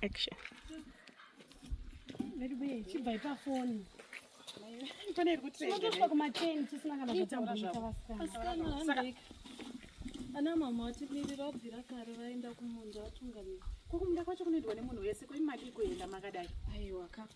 action ana mama vatimirira vabvira kare vaenda kumunda vatungamira kwakumunda kwacho kunoendwa nemunhu wese koimadi kuenda makadai aiwa kaka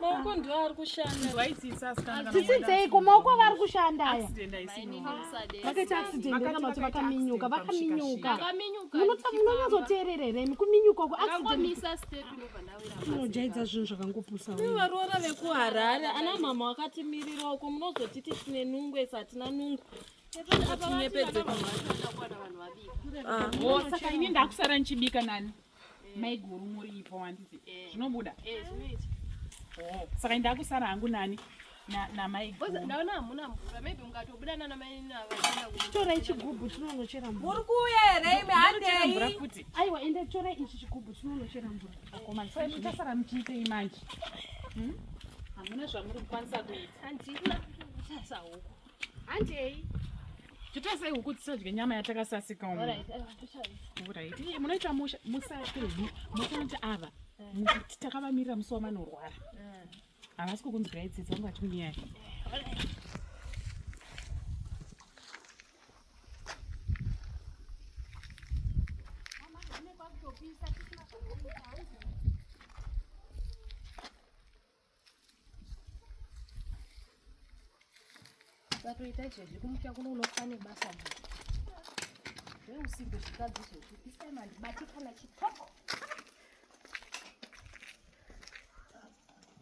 maoko ndiwo ari kushanda zvisitseiko maoko avo ari kushanda aya vakaita accident kana kuti vakaminyuka vakaminyuka munonyazoteerera here imi kuminyuka uko accidentinojaidza zvinhu zvakangopusavarora vekuharare ana mama wakatimirira uko munozoti tisine nungu esi hatina nungu ah. oh, saka ini ndakusara ndichibika nani maiguru muripo handiti eh. zvinobuda eh, oh, saka ndakusara hangu nani torai chigubhu chinonochera mvura aiwa ende torai ichi chigubhu chinonochera mvura muchasara muchiitei manje hmm? hamuna zvamuri kukwanisa kuita Handei. Titasai huku tisadye nyama yatakasasika umu. Alright, alright. Eh, munoita musha musati musanati ava. Eh. Takavamirira musi wamanorwara. Eh. Havasi kukunzwirai tsitsi vangu vachikunyaya. Mama, ukatoita izvezvi kumutya kuno unofa nebasa mbuya zveusimbe zvikadzi izvezvi this time handibati kana chitoko